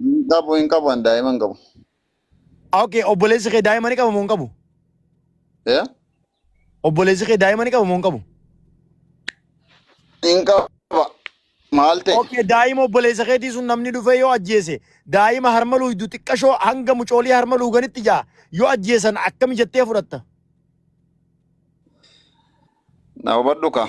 Hin qabu hin qabu an daa'ima hin qabu. Okay, obboleessi kee daa'ima ni qaba moo hin qabu? Eh? Obboleessi kee daa'ima ni qaba moo hin qabu? Hin qaba. Maal ta'e? Okay, daa'ima obboleessa keetii sun namni dhufee yoo ajjeese daa'ima harma luuydu xiqqashoo hanga mucoolii harma luuganitti jaa yoo ajjeesan akkami jettee fudhatta? Na hubadhu kaa.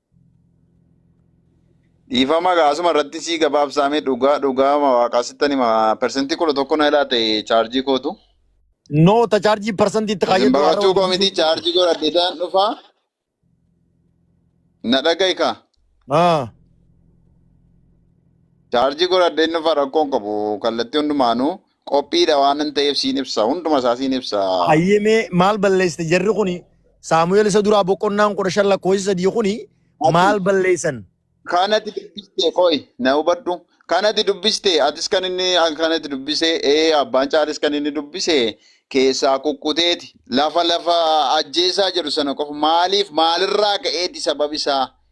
Dhiifama gaa asuma irratti sii gabaabsaame dhugaa dhugaa ma waaqaa sittan hima persentii kudha tokko na ilaate chaarjii kootu. No ta charge percent itti Isin kaayyaddu haara baqachuu koo miti hojjechuu. chaarjii godhadheetaan dhufa na dhagahi kaa. Ah. Chaarjii godhadheen dhufa rakkoon qabu kallattii hundumaanuu Qophiidha waanan ta'eef siin ibsa. Hunduma isaa siin ibsa. Hayyee mee maal balleessite jarri kuni Saamu'eel isa duraa boqonnaan kudha shan lakkoofsi sadii kuni Ati maal balleessan? kanati dubbiste qoy na hubadhu. Kanati dubbiste atis kan inni kanati dubbise ee abbaan caalis kan inni dubbise keessaa kukkuteeti. Lafa lafa ajjeesaa jedhu sana qofa maaliif maalirraa ka'eeti sababi isaa?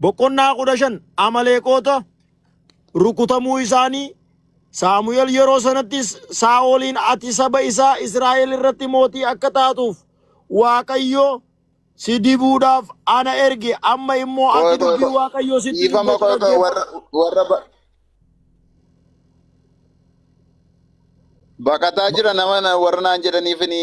Boqonnaa kudha shan Amaleeqoota rukutamuu isaanii Saamu'el yeroo sanattis Saa'oliin ati saba isaa Israa'el irratti mootii akka taatuuf Waaqayyo si dibuudhaaf ana erge amma immoo Koo ati koo dubbii koo. Waaqayyoo sitti Dhiifama dubbatu koo koo dhaggeeffadhu. warra warra ba- baqataa jira nama na- warra naan jedhaniif ni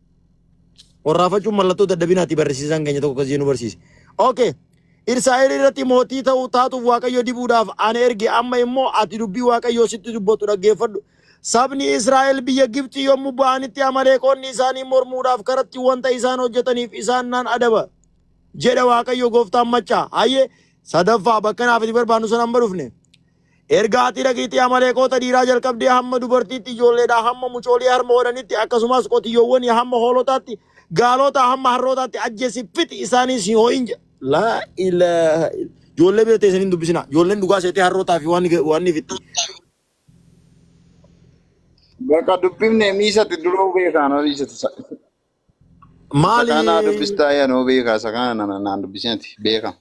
Warraafachuun mallattoo dadhabinaati barsiisaan keenya tokko akkasii nu barsiise. Okay. Irsaa'el irratti mootii ta'u taatuuf Waaqayyo dibuudhaaf ani erge amma immoo ati dubbii Waaqayyoo sitti dubbatu dhaggeeffadhu. Sabni Israa'el biyya Gibxi yommuu ba'anitti amaleeqonni isaanii mormuudhaaf karatti wanta isaan hojjetaniif isaan nan adaba. Jedha Waaqayyo gooftaan maccaa. Hayyee sadaffaa bakka naaf itti barbaannu sana amma dhufne. Erga ati dhaqiitii Amaleeqoota dhiiraa jalqabdee hamma dubartiitti, ijoolleedhaa hamma mucoolii harma hodhanitti, akkasumas qotiyyoowwanii hamma hoolotaatti, gaalotaa hamma harrootaatti ajjeesi, fixi, isaaniis hin ho'in jedha. Laa ilaaha illa. Ijoollee bira teessanii hin dubbisinaa. Ijoolleen dhugaa seetee harrootaa fi waan waan ni fixxi. Bakka dubbifne miisatti duruu beekaan olii jette. Isa Maali kaanaa dubbistaa yaa noo beekaa isa kaana naan dubbisnati beekama.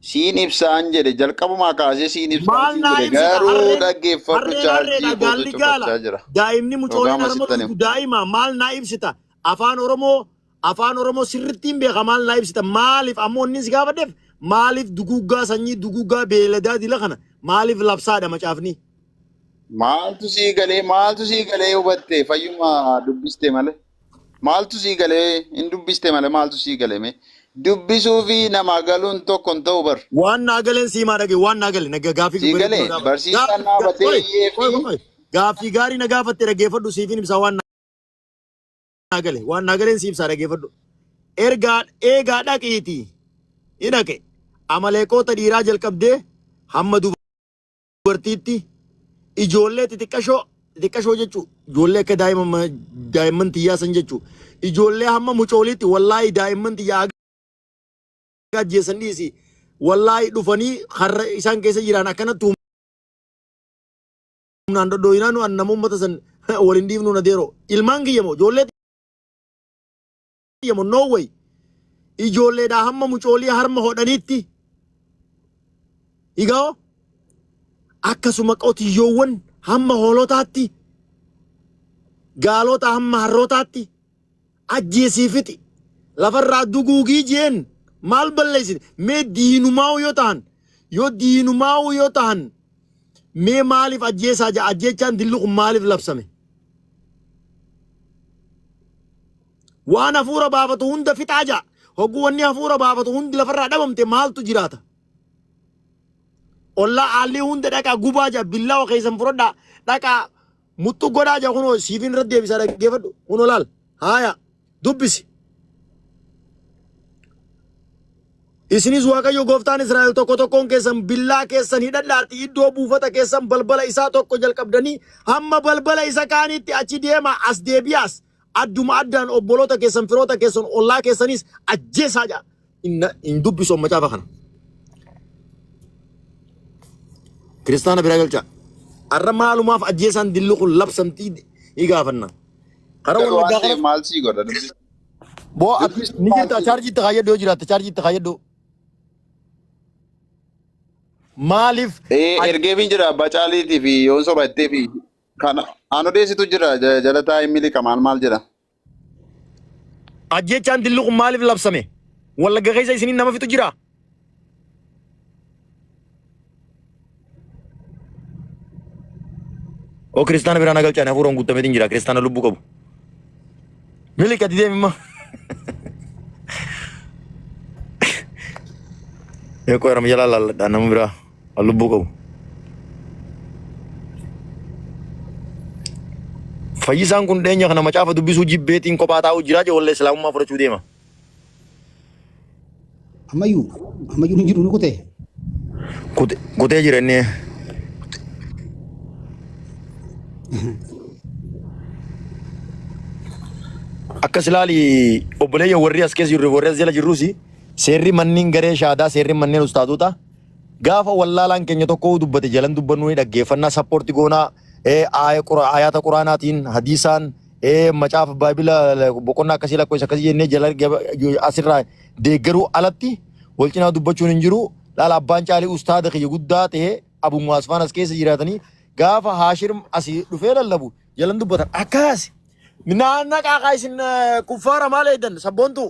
Siin ibsaan jedhe jalqabumaa kaasee siin ibsaan Maal siin naa jedhe ibsita garuu harreen dhaggeeffadhu harreen chaarjii harreedha kootu gaalli gaala cufachaa jira. daa'imni Yookaan mucooleen harma masittan dhugdu himu. daa'ima maal naa ibsita afaan oromoo afaan oromoo sirrittiin beeka maal naa ibsita maaliif ammoo inni si gaafadheef maaliif duguuggaa sanyii duguuggaa beeladaa dila kana maaliif labsaadha macaafni Maaltu sii galee maaltu sii galee hubatte fayyuma dubbiste malee. Maaltu sii galee hin dubbiste malee maaltu sii gale mee dubbisuu fi namaa galuun tokko hin ta'u bar. Waan naa galeen siimaa dhage waan naa gale naga gaafii Sii bareedu galee na gaafa. barsiisaan Gaafii naa ga- batee qoy iyyee qoy fi qoy gaafii gaarii na gaafatte dhaggeeffadhu siifin ibsaa waan naa gale waan naa galeen siibsaa dhaggeeffadhu. Ergaa eegaa dhaqiitii ni dhaqe amaleeqoota dhiiraa jalqabdee hamma duba. dubartiitti ijoollee xixiqqashoo xixiqqashoo jechuu ijoollee akka daa'ima daa'imman tiyyaa san jechuu ijoollee hamma mucooliitti wallaahi daa'imman tiyyaa akka ajjeessan dhiisi wallaahi dhufanii har'a isaan keessa jiran akkanatti humnaan dhodhooyinaa nu annama uummata san waliin dhiifnu na deeroo ilmaan kiyya moo ijoollee hayyamo no way ijoolleedhaa hamma mucoolii harma hodhaniitti igao akkasuma qotiyyoowwan hamma hoolotaatti gaalota hamma harrootaatti ajjeesii fixi lafarraa duguugii jeen maal balleessine mee diinumaa'uu yoo tahan yoo diinumaa'uu yoo tahan mee maaliif ajjeesaa jaa ajjeechaan dilli kun maaliif labsame Waan hafuura baafatu hunda fixaa ja'a. Hogguu wanni hafuura baafatu hundi lafarraa dhabamte maaltu jiraata? Ollaa aallii hunda dhaqaa gubaa ja'a billaawa keessan fudhadhaa dhaqaa muxxu godhaa ja'a kunoo siifin irra deebisaa dhaggeeffadhu kunoo laal haaya dubbisi. Isinis Waaqayyo gooftaan Israa'el tokko tokkoon keessan billaa keessan hidhadhaati iddoo buufata keessan balbala isaa tokko jalqabdanii hamma balbala isa kaaniitti achi deemaa as deebi'aas Adduma addaan obboloota keessan, firoota keessan, ollaa keessanis ajjeesaa jedha. Inna hin dubbisu macaafa kana. Kiristaana biraa galchaa. Har'a maalumaaf ajjeesaan dilli kun labsamtii ni gaafanna. Karaa Garuu wallaggaa waan ta'e kana maal sii godha dubbi. boo ati Dubbisi ni maal jirta sii godha. chaarjii itti kaayyadhu yoo jiraatte chaarjii itti kaayyadhu. Maaliif Ee aj- ergeefiin jira abbaa caaliitii fi yoon soba ittee fi Kan aan odeessitu jira ja- jalataa hin miliqa maal maal jedha. Ajjechaan dilli kun maaliif labsame? Wallagga keessa isiniin nama fixu jira? Oo kiristaana biraan agalchaan hafuuraan guuttameetiin jira kiristaana lubbuu qabu. Miliqa didee mimma. Eekkoo yaram jalaa laalladhaa nama biraa. An lubbuu qabu. Fayyisaan kun dheenya kana macaafa dubbisuu jibbeetiin kophaa taa'uu jiraa jee wallee islaamummaa fudhachuu deema. Ammayyuu ammayyuu hin jiru ni kutee. Kute- Kutee jira inni. Akkas ilaali obboleeyya warri as keessa jirru warri as jala jirrus seerri manneen garee shaadaa seerri manneen ustaazotaa Gaafa wallaalaan keenya tokko dubbate jalan dubbannuu ni dhaggeeffannaa sappoorti goonaa ayaata quraanaatiin hadiisaan macaafa baabila boqonnaa akkasii lakkoofsa akkasii jennee jala asirraa deeggaruu alatti wal cinaa dubbachuun hin jiru laala abbaan caalii ustaada kiyya guddaa ta'e abu muwaasfaan as keessa jiraatanii gaafa haashir asii dhufee lallabu jalan dubbatan akkaasi. Minaa naqaa kaa isin kuffaara maal eedan sabboontuu.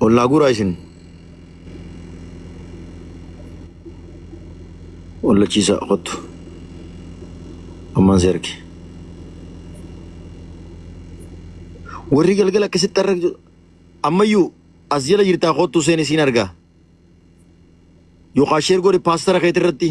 Ol naa guuraa isin. Wallachiisa kottu. Ammaan si arge. Warri galgala akkasitti har'a ammayyuu as jala jirtaa kottu seen isiin argaa. Yookaan sheer godhi paastara keetirratti.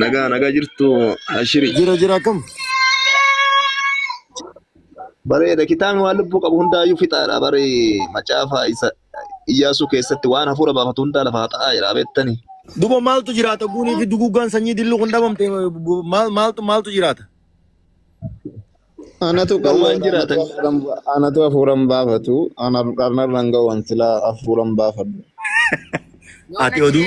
Nagaa nagaa jirtu ashiri. Jira jira akkam? Bareeda kitaabni waan lubbuu qabu hundaayyuu fixaadha bari macaafa isa iyyaasuu keessatti waan hafuura baafatu hundaa lafa haxa'aa jira beektani. Duba maaltu jiraata guunii fi duguuggaan sanyii dilluu kun dhabamte maal maaltu maaltu jiraata? Anatu Gowwaan qalloodha, jiraatan. anatu hafuuran ba- anatu hafuuran baafatu, ana dharnarraan gowwan silaa hafuuran baafadhu. Ati oduu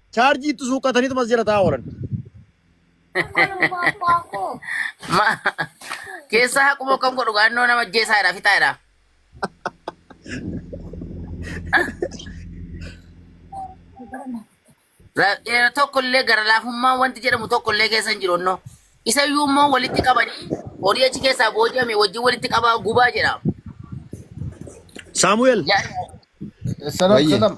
Chaarjii itti suuqqataniitu mas jala taa'aa oolan. Ma keessaa haquma akkam godhu gaannoo nama ajjeesaa jedha fixaa jedha. Ra- eh, Tokkollee gara laafummaan wanti jedhamu tokkollee keessa hin jiru innoo. Isa iyyuu immoo walitti qabanii horii achi keessaa booji'ame wajjin walitti qabaa gubaa jedha. Saamu'eel. Yaa- Salam, Wayye. salam.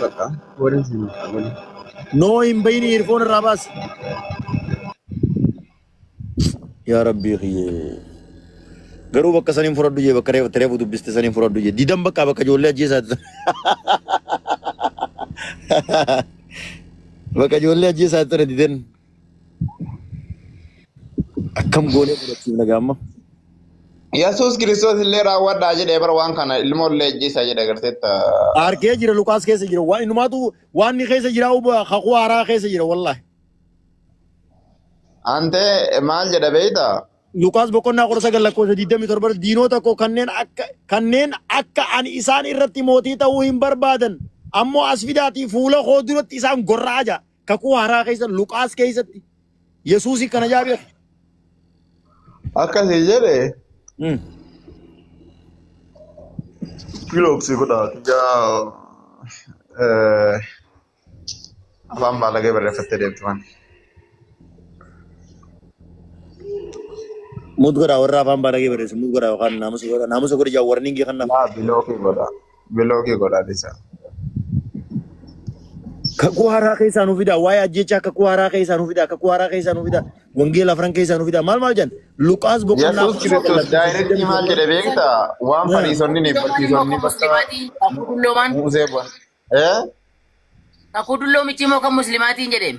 Bakka warri isin qabani. No hin bayini hirfoon irraa baas. Yaa rabbii kiyyee. Garuu bakka saniin fudhadhu jee bakka reefu reefu dubbiste saniin fudhadhu jee. Didan bakka bakka ijoollee ajjeesaati. Bakka ijoollee ajjeesaati sana didan. Akkam goonee fudhachiifna gaamma? Yesuus Kiristoos illee raawwadhaa jedhee bara waan kana ilmoo illee ajjeesaa jedhe agarteetta. Argee jira Luqaas keessa jira. Waan innumaatu waan inni keessa jira uba kakuu haaraa keessa jira wallahi. Antee maal jedha beeyta? Luqaas boqonnaa kudha sagal lakkoofsa digdamii torba irratti diinoota koo kanneen akka kanneen akka ani isaan irratti mootii ta'uu hin barbaadan ammoo as fidaatii fuula koo duratti isaan gorra'aa jira. Kakuu haaraa keessa Luqaas keessatti Yesuusii kana jaa beeku. Akkasii jedhe Mm. kiloobsii kudha yaa afaan baalagee barreeffattee deemtu waan. Mut godhaa warra afaan baadagee barreessu mut godhaa yookaan naamusa godhaa naamusa godhi jaa warningii kan naaf. Yaa bilookii godha. Bilookii godhaa dhisaa. Kakuu haaraa keessaa nu fidaa. Waa'ee ajjechaa kakuu haaraa keessaa nu fidaa. Kakuu haaraa keessaa nu fidaa. Wangeela afran keessaa nu fidaa. Maal maal jedhan? Luqaas boqonnaa Yesuus afur Kiristoos lakkoofsa daayirektii maal 27. jedhe beektaa? Waan Haa. fariisonni ni Dulloomaan immoo barsiisonni kan bakka muslimaatiin. Kakuu dulloomaan. Musee bu'a. Eh? Kakuu dulloomichi immoo kan muslimaatiin jedheen.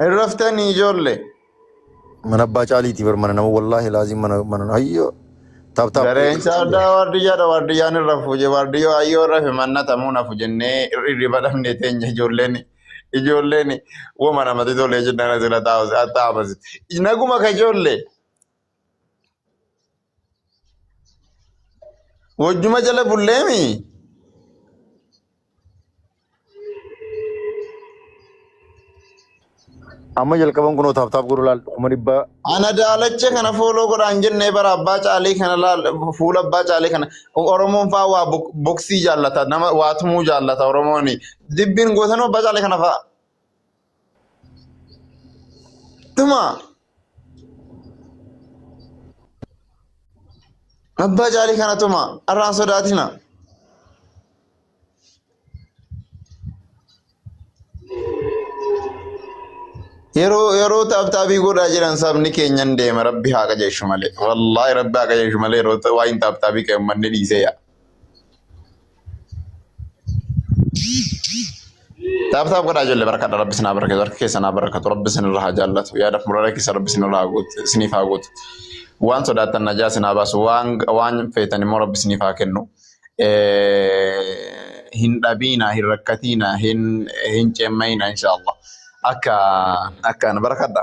Hin raftanii ijoollee. Mana abbaa caaliiti bar mana nama wallaahi laazim mana mana hayyoo taap taap Dareensa addaa waardiyyaadha waardiyyaan irra fuuje waardiyyoo hayyoo irra fi manna tamuun hafu jennee hirriba dhabnee teenya ijoolleen ijoolleen woma namatti tolee jennaan asirra taa'u taa'amasi. Naguma ka ijoollee. Wajjuma jala bulleemi. Amma jalqaban kunoo taaptaap godhu laal kuma dhibba Ana daalacha kana fooloo godhaan jennee bara abbaa caalii kana laal fuula abbaa caalii kana Oromoon faa waa bok- boksii jaallata nama waa tumuu jaallata Oromoon dibbiin gootanuu abbaa caalii kana faa Dhuma. Abbaa caalii kana tuma arraan sodaatina. Yeroo yeroo taaptaabii godhaa jiran sabni keenyan deema rabbi haa qajeeshu malee. Wallaahi rabbi haa qajeeshu malee yeroo waa hin taaptaabii ka'e uummanni dhiisee yaa. Taap taap godhaa ijoollee barkadha rabbi sinaa barkeetu harka keessan haa barkatu rabbi sinirra haa jaallatu yaadaf murara keessa rabbi sinirra haa guutu isiniif haa guutu waan sodaattan najaa sinaa baasu waan waan feetan immoo rabbi isiniif haa kennu hin dhabiina hin rakkatiina hin hin ceemmayina inshaallah akka akkaan barkadha.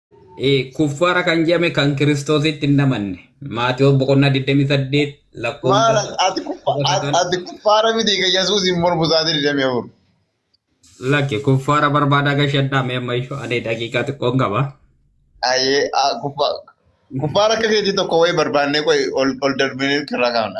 Kuffaara kan jedhame kan Kiristoositti hin amanne. Maatiyoos boqonnaa 28 lakkoofsa. Maal ati kuffa- ati kuffaara miti kan Yesuus hin mormu sa'aatii 24. Lakki kuffaara barbaadaa gashadhaa mee amma ishoo ani daqiiqaa xiqqoon qaba. Ayyee ah, kuffa- kuffaara akka keetii tokko wayii barbaannee qoy ol ol darbinee irraa kaafna.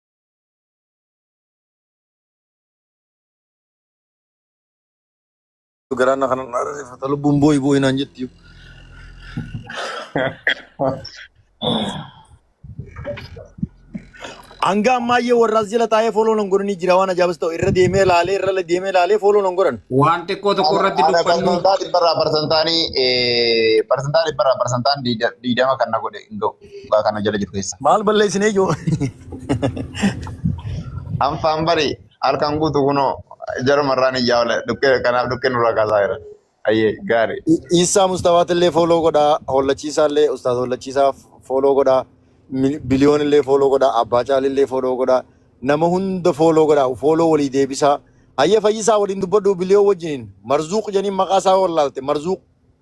Garaan na kana na rifata lubbuun booyi booyi naan jetti. Hanga ammaayyee warraas jala taa'ee fooloo nan godhanii jira waan ajaa'ibas ta'u irra deemee laalee irra deemee laalee fooloo nan godhan. Waan xiqqoo tokko irratti Ana dubbannu parsantaa dhibbarraa parsantaanii parsantaa dhibbarraa parsantaan diidama kan na godhe hin ga'u. Dhugaa kana jala jiru keessa. Maal balleessine ijoo? Anfaan bari halkan guutu kunoo jarumarraan iyyaa oole dhukkee kanaaf dhukkee nurraa kaasaa jira. Ayyee gaarii. Iisaa Mustafaat illee fooloo godhaa. Hollachiisaa illee Ustaaz Hollachiisaa fooloo godhaa. Mil- Biliyoon illee fooloo godhaa. Abbaa Caali illee fooloo godhaa. Nama hunda fooloo godhaa. Fooloo walii deebisaa. Hayya fayyisaa waliin dubbadhu biliyoo wajjiniin. Marzuuq janiin maqaa isaa wallaalte. Marzuuq.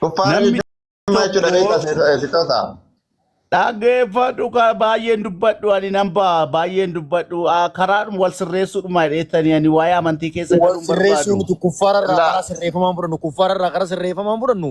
Kuffaara Namni jechuun maal jechuudha tokko beektaa sitoota? dhaggeeffadhu ka baay'een dubbadhu ani nan ba'a baay'een dubbadhu Ah, karaadhuma wal sirreessuudhuma jedheettanii ani waa'ee amantii keessa Wal galuun sirreessuu barbaadu. nuti kuffaara irraa Laa karaa sirreeffamaan fudhannu kuffaara irraa karaa sirreeffamaan fudhannu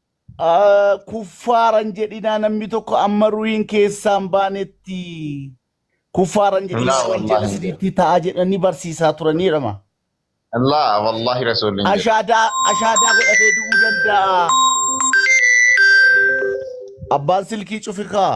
kuffaaran jedhinaa namni tokko amma ruhiin keessaan baanetti kuffaaran jedhinaa Laa waan jedhu wallaahi. isinitti ta'a jedhanii barsiisaa turaniidhama. Laa wallaahi rasuulli hin jedhu. Ashaadaa ashaadaa godhatee du'uu danda'a. Abbaan silkii cufikaa.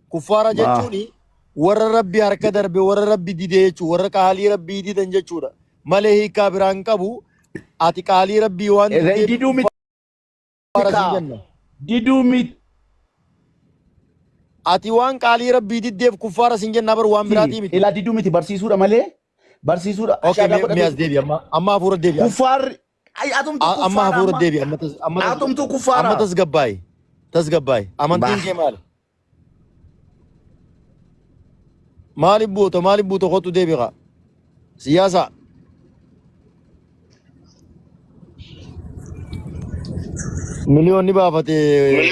Kuffaara Maa? jechuun warra rabbi harka darbe warra rabbi dide jechuu warra qaalii rabbii didan jechuudha malee hiikaa biraa hin qabu ati qaalii rabbii waan Egaa diddeef diduu miti kuffaara siin kaa. jenna Diduu miti. ati waan qaalii rabbii diddeef kuffaara siin jenna bar waan biraatii miti Ilaa diduu miti barsiisuudha malee barsiisuudha okay ashaadaa mee mee as godhatu deebi amma amma hafuura deebi as kuffaarri Ay atumtu A- Amma kuffaara hafuura amma. deebi. Amma tas- amma tas- Atumtu Amma kuffaara. tasgabbaa'e. Tasgabbaa'e. Amantiin Bah. kee maali? Maaliif buuta? Maaliif buuta? Kottu deebi kaa. Siyaasa. Miliyoonni baafatee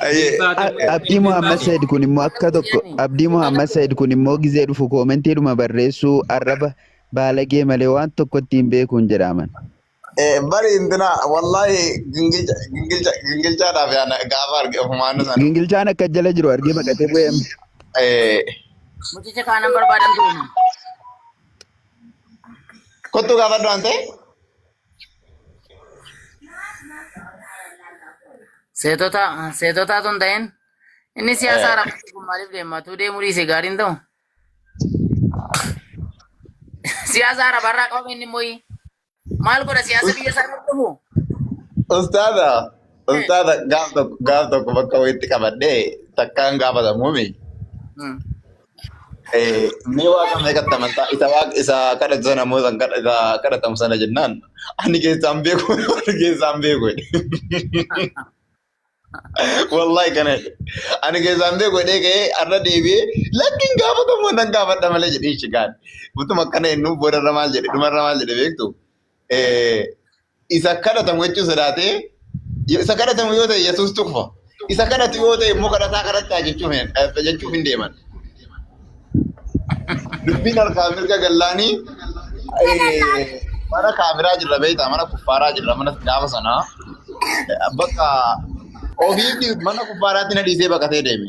Ayyee. Abdii Muhammad Said kun immoo akka tokko Abdii Muhammad Said kun immoo gizee dhufu koomentiidhuma barreessuu arraba baalagee malee waan tokko ittiin beekuun jedhaaman. Eh, Bari intina wallahi gingilcha gingilcha gingilchaadhaaf yaana gaafa arge ofumaan sana. Gingilchaan akka jala jiru argee baqatee bu'eem. Eh, Mucicha kaanan barbaadan ture. kottu gaafadhu waan ta'e. Seetota seetotaa tun ta'in inni siyaasaa rakkoo kun maaliif deema? Tuu deemuu dhiise gaariin ta'u. Siyaasa arabaa irraa qabame inni immoo maal godha siyaasa biyya isaa irratti dhufu? Ustaaza, ustaaza gaaf tokko gaaf tokko bakka wayiitti qabadhee takkaan gaafatamuumi. Eh, mee waaqa meeqatti amantaa isa waaqa isa kadhatu sana immoo isa kadha- isa kadhatamu sana jennaan ani keessaan beeku ani keessaan beeku jedhe. wallahi kana jedhe. ani keessaan beeku jedhee ka'ee har'a deebi'ee lakkiin gaafatamu nan gaafadha malee jedhee shigaan utuma akkana ennuu boodarra maal jedhe dhumarra maal jedhe beektu Eh, Isa kadhatamu jechuun sodaatee isa kadhatamu yoo ta'e Yesuus tuqfa. Isa kadhatu yoo ta'e immoo kadhataa kadhattaa jechuuf hin- eh, jechuuf hin deeman. Dubbiin harkaa mirga gallaanii eh, mana kaafiraa jirra beektaa mana kuffaaraa jirra mana gaafa sanaa bakka ofii mana kuffaaraatti na dhiisee baqatee deeme.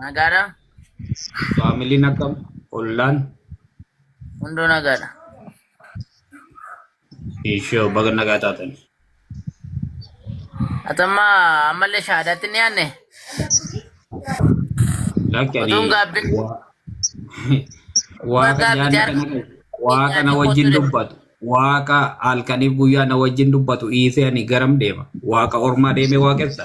Nagaadha. Faamiliin akkam? Ollaan? Hunduu nagaadha. Ishoo baga nagaa taatan. Atamma ammallee shahaadaatti ni aanne. Lakki ani Otuun gaabbiin waa waa kan gaabbii yaadni jaarka kana qabu waa kana nyaatee wajjin kootu dubbatu waaqa halkaniif guyyaa na wajjin dubbatu dhiisee ani garam deema waaqa ormaa deemee waaqessa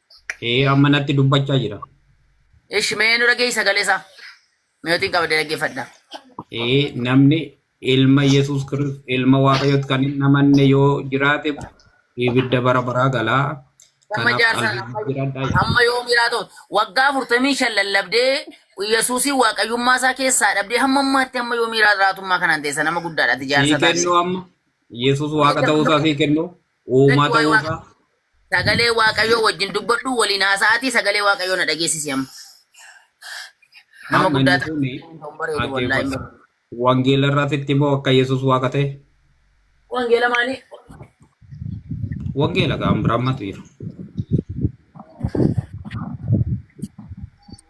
Ee amma natti dubbachaa jira. Ishi mee nu dhageessi sagalee isaa. Mi'ootiin qabdee dhaggeeffadha. Ee namni ilma Yesuus Kiristoos ilma Waaqayyootti kan hin amanne yoo jiraate ibidda bara baraa galaa. Amma Kanaaf jaarsa qalbii jiradhaa jedha. amma yoo miiraa ta'u waggaa afurtamii shan lallabdee Yesuusiin waaqayyummaa isaa keessaa dhabdee hamma ammaatti amma yoo miiraa jiraatummaa kanaan teessa nama guddaadha ati Sii jaarsa taate. kennuu amma Yesuus Waaqa ta'uu isaa sii kennuu. Uumaa Waa'ee ta'uu isaa. Waaqayyoo- Sagalee Waaqayyoo wajjin dubbadhu waliin haasa'aatii sagalee Waaqayyoo na dhageessisi amma. Nama Amma guddaa inni ta'e kuni kan bareedu wallaahi hin dhaggeeffata. bareedu. Wangeela irratti itti immoo akka Yesuus waaqa ta'e. Wangeela maalii? Wangeela kan biraa matu jira.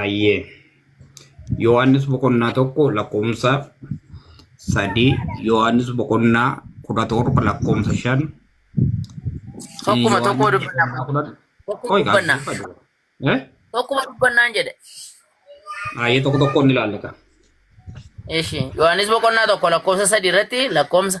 Ayyee. Yohaannis boqonnaa tokko lakkoofsa sadii Yohaannis boqonnaa kudha torba lakkoofsa shan Tokkuma tokkoo dubbanna. Tokko dubbanna. Tokkuma dubbannaan jedhe. Ayyee tokko tokkoon ni ilaallata. Eshi Yohaannis boqonnaa tokko lakkoofsa sadii irratti lakkoofsa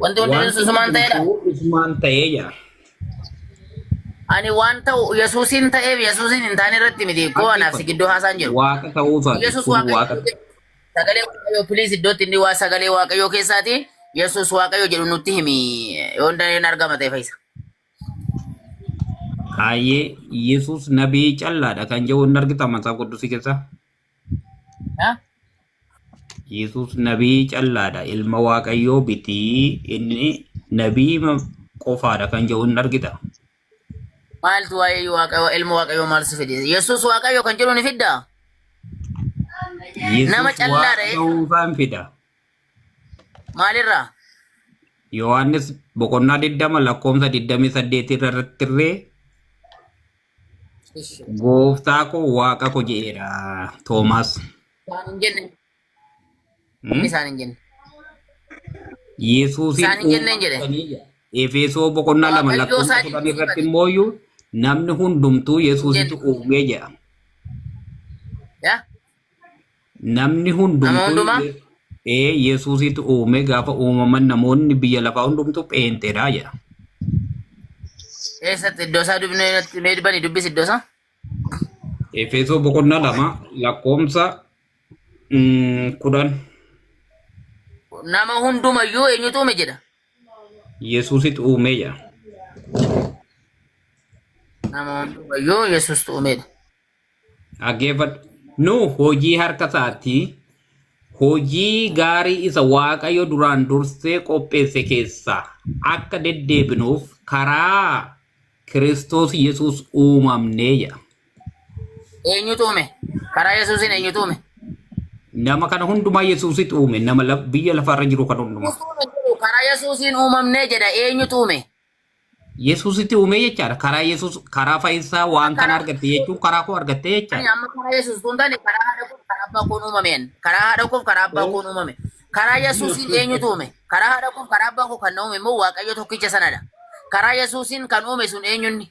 Wanti hundinuu Wanti Yesuusumaan ta'eedha. hundumtuu isumaan ta'ee jira. Ani waan ta'u Yesuusiin ta'eef Yesuusiin hin taane irratti miti koo anaaf si gidduu haasaan jiru. Waaqa ta'uu isaati. Yesuus Kun Waaqayyo waaqa. sagalee Waaqayyoo piliis iddootti inni waa sagalee Waaqayyoo keessaati Yesuus Waaqayyo jedhu nutti himi yoo dandeenye argama ta'e fayyisa. Hayyee Yesuus nabii callaadha kan jedhu hin argita mataa quddusii keessaa. Haa? Yesus nabii callaadha. Ilma Waaqayyoo bitii inni nabii ma- qofaadha kan jedhu hin argita. Maaltu waa'ee Waaqayyoo ilma Waaqayyoo maal si fide? Yesus Waaqayyoo kan jedhu ni fidda? Yesus Nama callaadha Waaqa jechuudha. ta'uu isaan fida. Maalirraa? Yohaannis boqonnaa 20 lakkoofsa 28 irratti illee Gooftaa koo waaqa koo jedheera Toomaas. Isaan hin jenne. Hmm? Isaan hin jenne. Yesuusiin Isaan hin jenneen jedhe. uumamtanii jedha. Efeesoo boqonnaa lama Waaqayyoo lakkoofsa isaa kudhan irratti jibbiifate. immoo iyyuu namni hundumtuu Yesuusitu Jenne. uumee jedha. Yaa Namni Nama hundumtuu hundumaa ee Yesuusitu uume gaafa uumaman namoonni biyya lafaa hundumtuu pheenxeedha jedha. eessatti iddoo isaa dubnee natti mee dubbani dubbisi iddoo isaa. Efeesoo boqonnaa lama lakkoomsa mm, kudhan Nama hundumayyuu eenyutu uume jedha. Yesuusitu uume jedha. Nama hundumayyuu Yesuustu uumedha. Dhaggeeffadhu. Nu hojii harka isaati. Hojii gaarii isa Waaqayyo duraan dursee qopheesse keessaa akka deddeebinuuf karaa Kiristoos Yesuus uumamnee jedha. Eenyutu uume? Karaa Yesuusiin eenyutu uume? Nama kana hundumaa Yesuusitu uume. Nama laf- biyya lafarra jiru kan hundumaa. Yesuusiin jedhu karaa Yesuusiin uumamnee jedha. Eenyutu uume? Yesuusitti uumee jechaadha. Karaa Yesuus karaa fayyinsaa waan kana argatte jechuun karaa koo argatte Ani jechaadha. amma karaa Yesuus tun taane karaa haadha koof karaa abbaa koon uumameen. Karaa haadha koof karaa abbaa koon uumame. Karaa Yesuusiin eenyutu uume? Karaa haadha koof karaa abbaa koo kan na uume immoo Waaqayyo tokkicha sanadha. Karaa Yesuusiin kan uume sun eenyunni?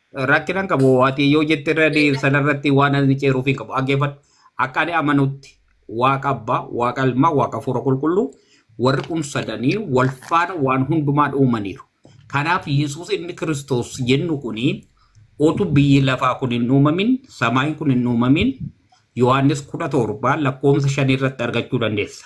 Rakkinan qabu ati yoo jette irra dee- sanarratti waan ani ceeruuf hin qabu. Dhaggeeffadhu. Akka ani amanutti waaqa abbaa, waaqa ilmaa, waaqa hafuura qulqulluu warri kun sadanii wal faana waan hundumaan uumaniiru. Kanaaf Yesuus inni Kiristoos jennu kuni otu biyyi lafaa kun hin uumamin, samaayin kun hin uumamin, Yohaannis 17 lakkoofsa 5 irratti argachuu dandeessa.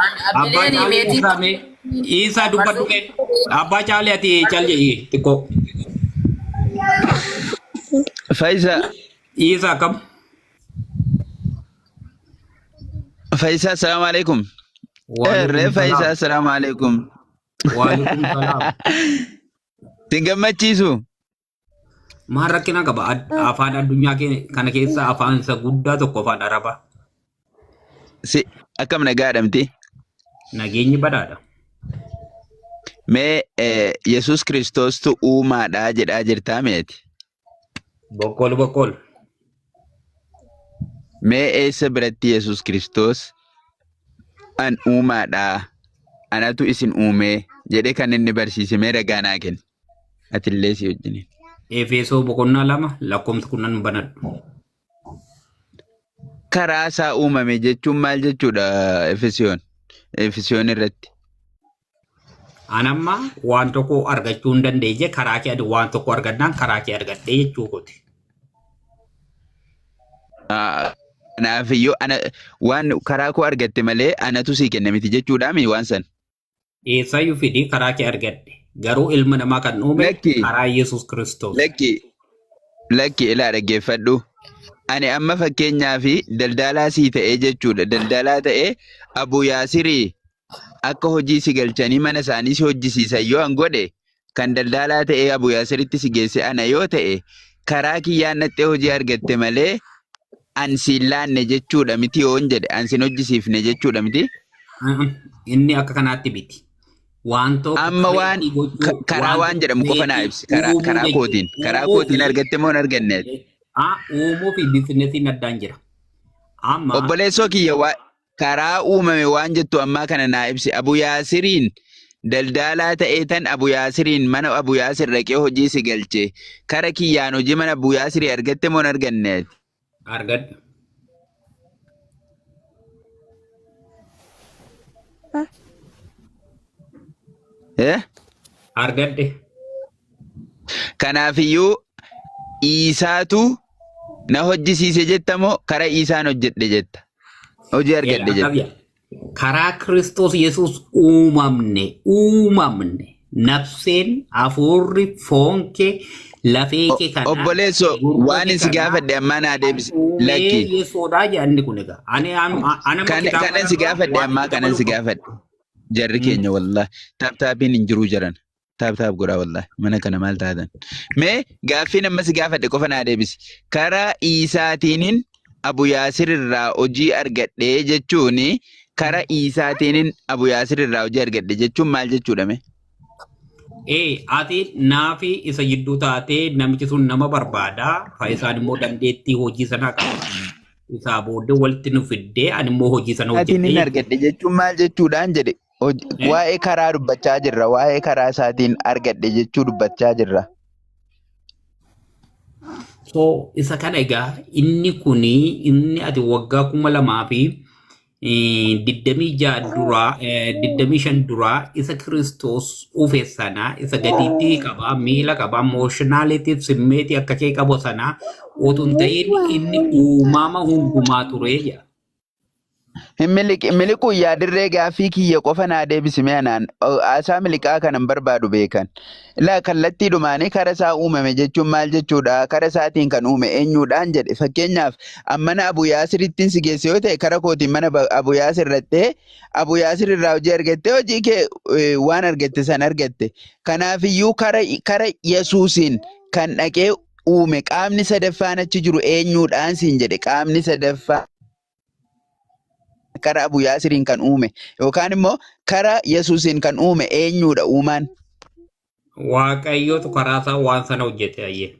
Abbaa Abbileen caalee meetii dhiisaa mee dhiisaa dubbadhu kee. Abbaa caalee ati cal jedhi xiqqoo. Fayisa Dhiisaa akkam? Fayisa assalamu alaikum. Eh Waalaikum ree Fayisa salaam. assalamu alaikum. Waalaikum salaam. Sin gammachiisu. Maal rakkina qaba? Ad- Ah, Afaan addunyaa kee- kana keessaa afaan isa guddaa tokko afaan Arabaa. Si akkam nagaa jedhamti? Nageenyi badhaadha. Mee eh, Yesuus Kiristoostu uumaadha jedhaa jirtaa meeti? Boqqoolu boqqoolu. Mee eessa biratti Yesuus Kiristoos an uumaadha anatu isin uumee jedhee kan inni barsiise mee ragaa naa kenni. atillee si wajjiniin. Efeesoo boqonnaa lama lakkoofsa kudhan banadhu. Karaa isaa uumame jechuun maal jechuudha Efesiyoon? Efesiyoon irratti. An amma waan tokko argachuu hin dandeenye karaa kee ani waan tokko argadhaan karaa kee argadhee jechuu kooti. Ah, Kanaaf iyyuu ana waan karaa koo argatte malee anatu sii kenne miti jechuudhaami waan san. Eessaayyuu fidii karaa kee argadhe. Garuu ilma namaa kan uume Lakki. karaa Yesuus Kiristoos. Lakki, lakki ilaa dhaggeeffadhu. Ani amma fakkeenyaa fi daldalaa sii ta'ee jechuudha. Daldalaa ta'ee Abu Yaasirii akka hojii si galchanii mana isaanii si hojjisiisan yoo an godhe kan daldaalaa ta'ee Abu Yaasiritti si geesse ana yoo ta'e karaa kiyyaan dhaxxee hojii argatte malee an siin laanne jechuudha miti yoon jedhe an sin hojjisiifne jechuudha miti. Inni akka kanaatti miti. Waan tokko Amma waan kareetii gochuu, ka- karaa waan waan tokko jedhamu qofa naa creative, ibsi karaa uumuu karaa jechuudha. kootiin karaa Uumuu kootiin fi- argatte moo hin arganne Ah, uumuu fi biizinesiin addaan jira. Amma obboleessoo kiyya waa karaa uumame waan jettu ammaa kana naa ibsi abu yaasiriin daldaalaa ta'ee tan abu yaasiriin mana abu yaasir dhaqee hojii si galche kara kiyyaan hojii mana abu yaasirii argatte moo hin arganne argadhe eh argadhe Kanaafiyyuu Iisaatu na hojjisiise jetta moo kara Iisaan hojjedhe jetta? Hojii argadhe jetta. Akkamya. Karaa Kiristoos Yesuus uumamne, uumamne. Nafseen, hafuurri, foon kee, lafee O- kee kan Obboleesso haadhe, gurra waan kee isin kan gaafadhe haadhe, ammaa naa kan deebise. uumee Lakki. Yesuudhaa jedhanni kun egaa. Ani an- an- anamma Kan kitaaba kanan si kanarraa gaafadhe waan ammaa itti kanan dabaluun si qabu. gaafadhe. Jarri Mm. keenya wallah taaptaapiin hin jiruu jaran. Taap taap godhaa wallahi. Mana kana maal taatan? Mee gaaffiin amma si gaafadhe qofa naa deebisi. Karaa Iisaatiinin Abu Yaasir irraa hojii argadhe jechuun karaa Iisaatiinin Abu Yaasir irraa hojii argadhe jechuun maal jechuudha mee? Ee ati naafi isa jidduu taatee namichi sun nama barbaada faayisaan immoo dandeettii hojii sanaa qaba. Isaa booddee walitti nu fiddee ani immoo hojii sana Iisaatiinin hojjedhee argadhe jechuun maal jechuudhaan jedhe Hoj- Waa'ee karaa dubbachaa jirra. Waa'ee karaa isaatiin argadhe jechuu dubbachaa jirra. So isa kana egaa inni kuni inni ati waggaa kuma lamaa fi eh, digdamii ja'a duraa eh, digdamii shan duraa isa Kiristoos uufe sana isa gadiitti qaba miila qaba emooshinaalitiif simmeetii akka kee qabu sana utuu hin ta'in inni uumama hundumaa ture jedha. Hin miliqi- miliquu yaa dirree gaaffii kiyya qofa naa deebisi mee anaan o- haasaa miliqaa kanan barbaadu beekan. Ilaa kallattii dhumaanii kara isaa uumame jechuun maal jechuudha? Kara isaatiin kan uume eenyuudhaan jedhe? Fakkeenyaaf an mana Abu Yaasirittiin si geesse yoo ta'e kara kootiin mana Ba- Abu Yaasir dhattee Abu Yaasir irraa hojii argattee hojii kee eh, waan argatte san argatte. Kanaafiyyuu kara, kara Yesuusiin kan dhaqee uume qaamni sadaffaan achi jiru eenyuudhaan siin jedhe qaamni sadaffaa. karaa Abu Yaasiriin kan uume yookaan immoo karaa Yesuusiin kan uume eenyudha uumaan? Waaqayyootu karaa isaa waan sana hojjete ayyee.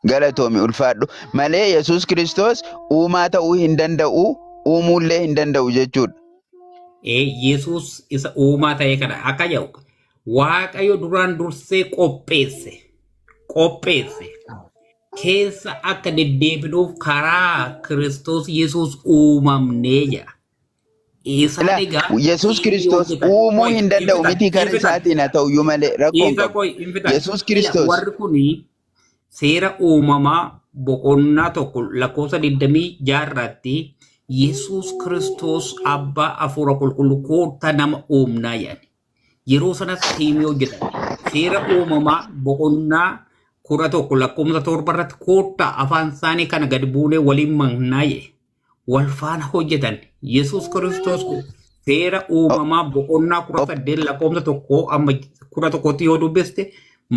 Galatoomi ulfaadhu. Malee Yesuus Kiristoos uumaa ta'uu hin danda'u, uumuullee hin danda'u jechuudha. Ee Yesuus isa uumaa ta'e kana akka jedhu Waaqayyo duraan dursee qopheesse. Qopheesse. keessa akka deddeebinuuf karaa Kiristoos Yesuus uumamne jedha. Isaan Ila egaa Yesuus inni Kiristoos hojjetan uumuu qoy hin hin danda'u fixan mitii hin karra fixan isaatiin haa ta'u iyyuu malee rakkoo hin dhiisa qabu. qoy hin fixan. Yesuus Ila Kiristoos warri kun seera uumamaa boqonnaa tokko lakkoofsa 26 irratti Yesuus Kiristoos abbaa hafuura qulqulluu koottaa nama uumnaa jedhan. yeroo sanas tiimii hojjetan seera uumamaa boqonnaa kudha tokko lakkoofsa torba irratti koottaa afaan isaanii kana gad buunee waliin mannaa jedhe wal faana hojjetan yesus kiristoos kun seera uumamaa boqonnaa kudha saddeet lakkoofsa tokkoo amma kudha tokkotti yoo dubbiste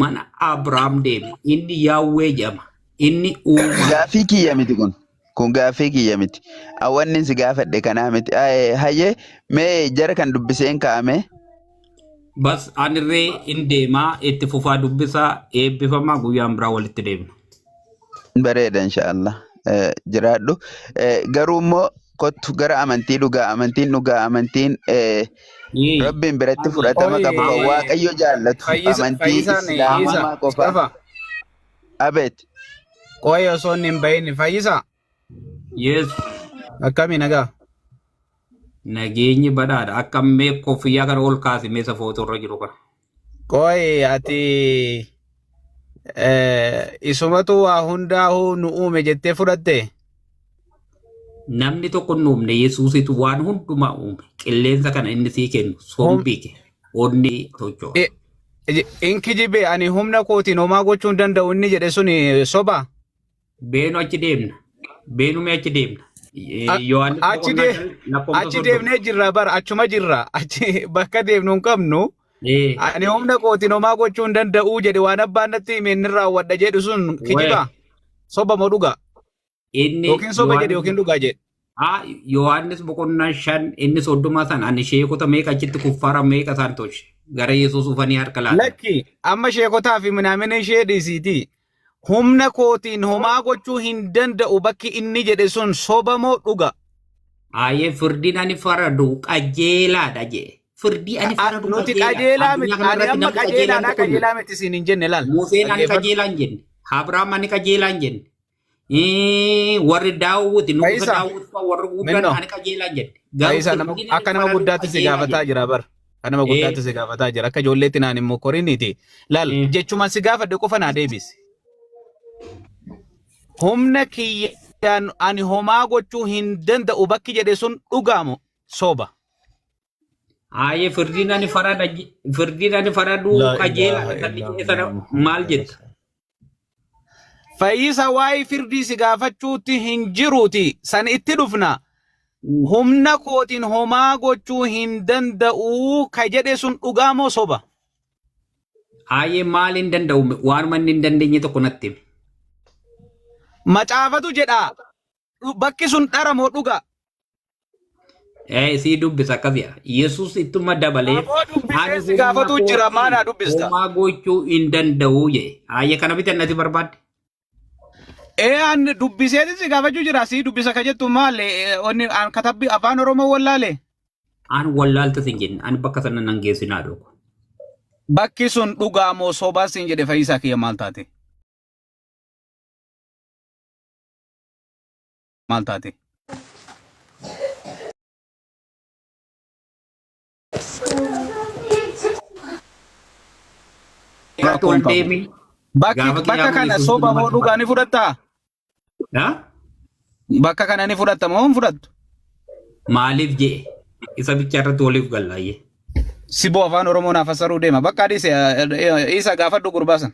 mana abrahaam deeme inni yaawwee jedhama inni uumaa Gaaffii kiyya miti kun. Kun gaaffii kiyya miti. An wanni si gaafadhe kanaa miti. Hayyee mee jara kan dubbiseen kaa'ame. Bas anirree in deemaa itti fufaa dubbisaa eebbifamaa guyyaan biraa walitti deemna. Bareeda inshaallah jiraadhu. Garuu immoo kottu gara amantii dhugaa amantiin dhugaa amantiin rabbiin biratti fudhatama qabu kan waaqayyo jaallatu amantii islaamummaa qofa. Abet. Qoy osoo inni hin bahin fayyisa. Yes. Akkami nagaa? Nageenyi badhaadha. Akka mee koffiyyaa kana ol kaasi mee safoota irra jiru kana. Qoy ati eh, isumatu waa hundaa'uu nu uume jettee fudhatte? Namni tokko hin uumne Yesuusitu waan hundumaa uume. Qilleensa kana inni sii kennu Hom- sombii kee onni tocho'u. e- e- in kijibe ani humna kootiin homaa gochuu hin danda'u inni jedhe sun eh, soba Beenu achi deemna. Beenumee achi deemna. A- Yohaannis achi boqonnaa dee- shan lakkoofsa achi soddoma. deemnee jirra bara achuma jirra achi bakka deemnu hin qabnu Ee, Ani humna kootiin homaa gochuu hin danda'uu jedhe waan abbaan natti hime inni raawwadha jedhu sun wee, kijiba soba moo dhugaa inni yookiin soba jedhe Yohaannis yookiin dhugaa jedhe. haa Yohaannis boqonnaa shan inni soddoma san ani sheekota meeqa achitti kuffaara meeqa isaan tolche gara Yesuus dhufanii harka laatan. Lakki amma sheekotaa fi minaamina ishee dhiisiitii Humna kootiin homaa gochuu hin danda'u bakki inni jedhe sun soba moo dhuga? Aayee firdiin ani faradu qajeelaadha jee. Firdii ani faradu Nuti qajeelaa qajeelaadha. miti. Addunyaa Ani kanarratti amma namni qajeelaan qajeelaadha tokko hin jiru. qajeelaa miti siin hin jenne laal. Museen ani Dhaggeeffadhu. qajeelaan jenne. Abrahaam ani qajeelaan jenne. Eh, warri daawwiti nugusa Fayyisaa, daawwiti fa'aa warri guddaan minnoo. ani qajeelaan jedhe garuu Fayyisaa nama firdiin akka inni nama fudhatu guddaatti si qajeelaa gaafataa jedhe jira bar. Akka nama guddaatti si eh gaafataa jira. Akka ijoolleetti naan hin mokoriniiti. Laal eh jechumaan si gaafadhe qofa naa deebisi. Humna kiyyaan ani homaa gochuu hin danda'u bakki jedhe sun dhugaamu soba. Aayee firdiin ani farada firdiin ani faraduu Laa qajeela ilaaha kan illaa jedhe sana Muhammad maal Muhammad jetta? Rasulullah. Fayyisa waa'ee firdii si gaafachuutti hin jiruuti. San itti dhufna. Mm. Humna kootiin homaa gochuu hin danda'uu ka jedhe sun dhugaa moo soba? Aayee maal hin danda'u waanuma inni hin dandeenye tokko natti himi. Macaafatu jedha. Dhu- Bakki sun dhara moo dhuga? Eh, sii dubbisa akkas jedha. Yesus ittuma dabalee Aboo dubbisee ani si humna gaafatuu jira maa naa kootiin dubbista. homaa gochuu hin danda'u jedhe. Haayya kana bitan nati barbaadde. Ee an dubbisee si gaafachuu jira si dubbisa ka jettu maali onni an katabbi afaan oromoo wallaale An wallaalta sin jenne ani bakka sana nan geessinaa dhugu. bakki sun dhugaa moo sobaa siin jedhe fayyisaa kiyya maal taate. maal taate? Rakkoon deemi. Bakki Gaafa bakka qiyaamaa kana ni soba fudhatu moo maal dhugaa ni fudhattaa? Ha? Bakka kana ni fudhatta moo hin fudhattu? Maaliif jee? Isa bicha irratti waliif gallaayyee. Siboo afaan Oromoo naaf fassaruu deema. Bakka adiis isa gaafadhu gurbaa san.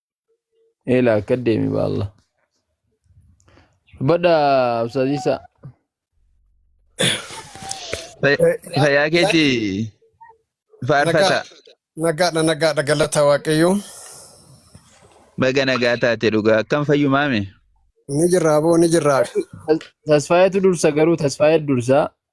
Eela akka deemi baalla. Badha Absaziisa. Fayyaa keeti faarfata. Nagaadha nagaadha galata waaqayyoo. Baga nagaa taate dhugaa akkam fayyumaame. Ni jirraa boo ni jirraa. Tasfaayetu dursa garuu tasfaayee dursa.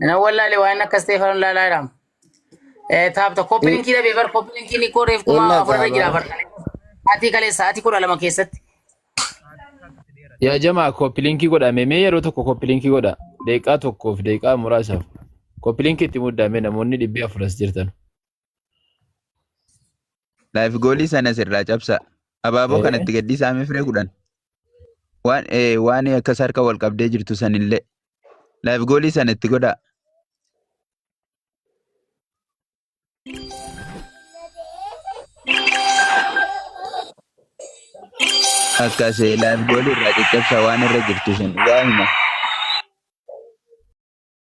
Nan wallaale waan akka Isteefanoon laalaa jiraam. Taapta kooppi Hin- linkii dhabee bar kooppi linkii ni koo reef kuma Wallah afurra jira taabara. bar. Sa'aatii kalee sa'aatii kudha lama keessatti. Yaa jamaa koppiliinkii godha mee mee yeroo tokko koppiliinkii godha deeqaa tokkoof deeqaa muraasaaf koppiliinkii itti muddaame namoonni dhibbi afur as jirtan. Laayifi goolii sana sirraa cabsaa. Abaaboo kana itti gadhiisaa mee firee kudhan. Waan ee, waan akkas harka wal qabdee jirtu sanillee. Laayifi goolii sana itti godhaa. Akkas ee, laayifi goolii irraa caccabsaa waan irra jirtu sana. Waa hima.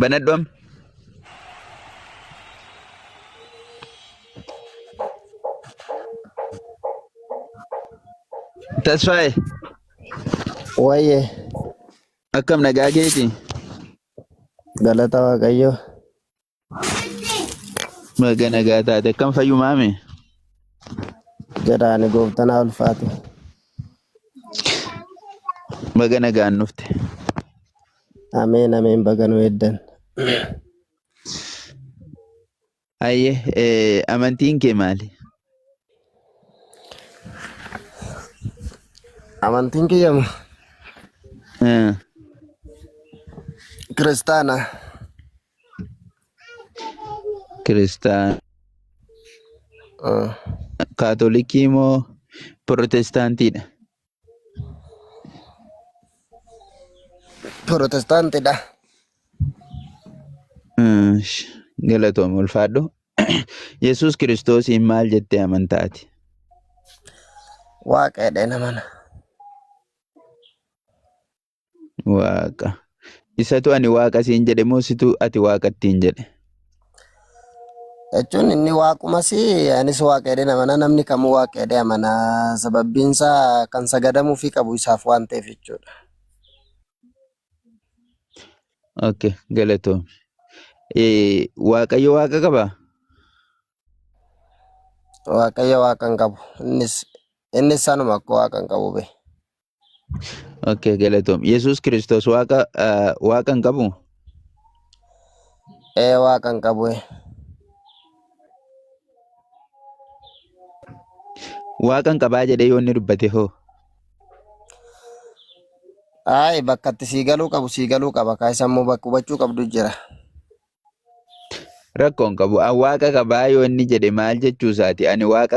Banadhu amma. Tasfaaye Wayyee akkam nagaa keeti? galata waaqayyoo Baga nagaa taate akkam fayyumaa mee? jedhaani gooftanaa ulfaatu. Baga nagaan dhufte. Ameen ameen baga nu eeddan. Hayyee eh, amantiin kee maali? Amantiin kiyya ma- Eh, kiristaana. Kiristaana, Ah, kaatolikii moo pirootestaantiidha? Pirotestaantidha. Ish, Galatoom ulfaadhu. Yesuus Kiristoosiin maal jettee amantaati? Waaqeedha namana. Waaqa. Isatu ani waaqa siin jedhe moo situ ati waaqa ittiin jedhe? jechuun inni waaqumas anis waaqa jedhee amana namni kamuu waaqa jedhee amana sababbiin isaa kan sagadamuufii qabu isaaf waan ta'eef jechuudha. Okay, galatoomi. Eh, Waaqayyo waaqa qabaa? Waaqayyo waaqa hin qabu innis innis sanuma akka waaqa hin qabu bee. Okay, galatoom. Yesuus Kiristoos waaqa ah, waaqa hin qabu? Ee waaqa hin qabu. ee. Waaqa hin qabaa jedhee yoo inni dubbate hoo? Ayi bakka itti sii galuu qabu sii galuu qaba. Kaa isa immoo bakka hubachuu qabdu jira. Rakkoo hin qabu. An waaqa qabaa yoo inni jedhe maal jechuu isaati? Ani waaqa